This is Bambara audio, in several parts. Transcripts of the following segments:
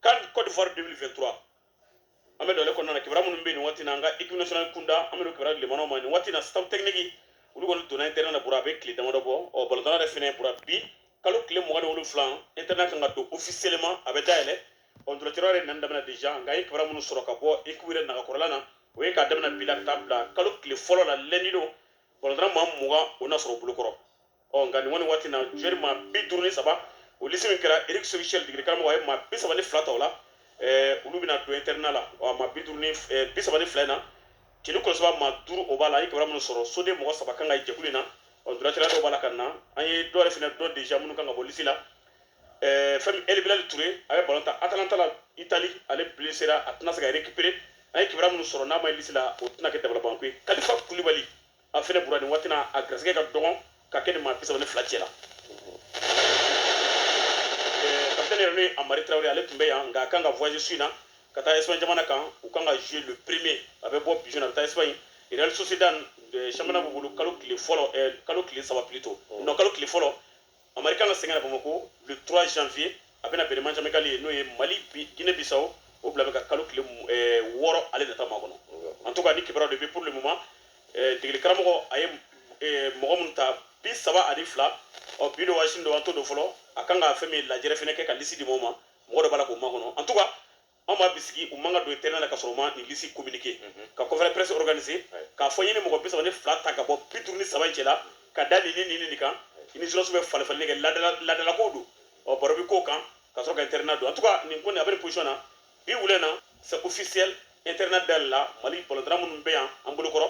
CAN côte d'ivoire 2023 an bɛ don o le kɔnɔna na kibaruya minnu bɛ nin waati na an ka équipe nationale kunda an bɛ don kibaruya lamɛnnaw ma nin waati na staff technique olu kɔni donna internat na bura a bɛ tile damadɔ bɔ ɔ balontanna yɛrɛ fɛnɛ bura bi kalo tile mugan ni wolonfila internat kan ka don officiellement a bɛ dayɛlɛ ɔ ntolacɛyɔrɔ yɛrɛ nani daminɛ déjà nka an ye kibaruya minnu sɔrɔ ka bɔ équipe yɛrɛ nagakɔrɔla na o ye k'a daminɛ bi la ka taa bila kalo tile fɔlɔ la lundi don balontanna maa mugan o na sɔrɔ bolokɔrɔ ɔ nka nin kɔni waati na joueur maa bi duuru ni saba o lisi min kɛra eric sékou chelle degeli karamɔgɔ a ye maa bi saba ni fila ta o la olu bɛna don internat la ɔ maa bi duuru ni bi saba ni fila in na celu kɔlɔsiba maa duuru o b'a la an ye kibaruya minnu sɔrɔ soden mɔgɔ saba kan ka ye jɛkulu in na ɔ duratira dɔw b'a la ka na an ye dɔ yɛrɛ fana dɔn déjà minnu kan ka bɔ lisi la fɛn min el bilal touré a bɛ balon tan atalanta la itali ale blesséra a tɛna se ka récupérer an ye kibaruya minnu sɔrɔ n'a ma ye lisi la o tɛna kɛ dabalibanko ye kalifa kulibali a fɛnɛ bura nin waati na a garisɛgɛ ka dɔgɔn ka kɛ nin maa bi saba ni fila cɛ la kapitɛni yɛrɛ n'o ye amari tarawele ale tun bɛ yan nka a kan ka voyage su in na ka taa espagne jamana kan u kan ka jouer le premier a bɛ bɔ bijon a bɛ taa espagne real sociedad championnat b'u bolo kalo tile fɔlɔ kalo tile saba plutôt non kalo tile fɔlɔ Amari kan ka segin ka na Bamako le 3 janvier a bɛna bɛn ni match amical ye n'o ye Mali Guinée Bissau o bila bɛ ka kalo tile eh, wɔɔrɔ ale nata makɔnɔ en tout cas nin kibaruya de bɛ pour le moment eh, degeli karamɔgɔ a ye eh, mɔgɔ minnu ta bi saba ani fila ɔ bi don wa sini don an t'o dɔn fɔlɔ a kan ka fɛn min lajɛrɛ fɛnɛ kɛ ka lisi di mɔgɔw ma mɔgɔ dɔ b'a la k'o makɔnɔ en tout cas an b'a bisigi u man kan ka don internat la ka sɔrɔ u ma nin lisi communiquer mhm. ka conférence presse organiser k'a fɔ n ye nin mɔgɔ bi saba ni fila ta ka bɔ bi duuru ni saba in cɛla ka da nin ni nin nin kan i ni journalistew bɛ falenfalenni kɛ laadalakow don ɔ baro bɛ k'o kan ka sɔrɔ ka internat don en tout cas nin ko nin a bɛ nin position na bi wula na c'est officiel internat dayɛlɛla mali balontanna minnu bɛ yan an bolokɔrɔ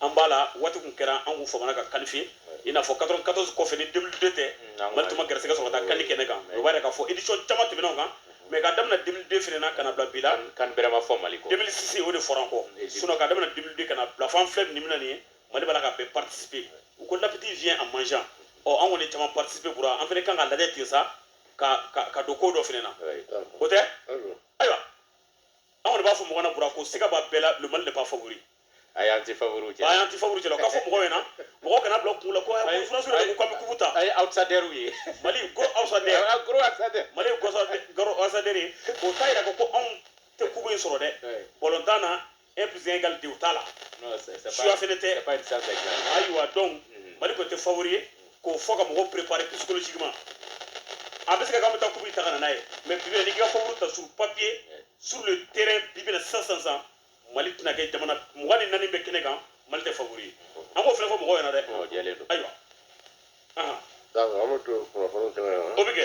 an b'a la waati kun kɛra an kun famana ka qualifier i n'a fɔ 94 kɔfɛ ni 2002 tɛ mali tun ma garisɛgɛ sɔrɔ ka taa CAN kɛnɛ kan o b'a yira k'a fɔ édition caman tɛmɛna o kan mais ka damina 2002 fana na ka na bila bi la CAN bɛrɛ ma fɔ mali kɔ 2006 o de fɔra an kɔ sinon ka damina 2002 ka na bila fo an filɛ nin min na nin ye mali b'a la ka bɛɛ participer u ko l'appétit vient en mangeant ɔ an kɔni caman participer bura an fana kan ka lajɛ ten sa ka ka ka don ko dɔ fana na o tɛ ayiwa an kɔni b'a fɔ mɔgɔ na bura ko siga b'a bɛɛ la le mali n'est pas favori ayi an tɛ favori cɛ ayi an tɛ favori cɛ o ka fɔ mɔgɔ ɲɛna mɔgɔ kana bila kun la ko ko furasuru de ko an bɛ kupu ta an ye outsiderw ye mali ko outsider gros outsider mali gros outsider ye o t'a yira ko anw tɛ kupu in sɔrɔ dɛ balontan na un plus un égale deux o t'a la science fɛnɛ tɛ ayiwa donc mm-hmm. mali kɔni tɛ favori ye k'o fɔ ka mɔgɔw préparer psychologiquement a bɛ se ka k'an bɛ taa kupu in ta ka na n'a ye mais bi bi in na n'i k'i ka favori ta sur papier sur le terrain bi bi in na sisan sisan sisan mali tɛna kɛ jamana mugan ni naani bɛ kɛnɛ kan mali tɛ favori ye an k'o fɛnɛ fɔ mɔgɔw ɲɛna dɛ ayiwa an bɛ to kunnafoniw tɛmɛ o bɛ kɛ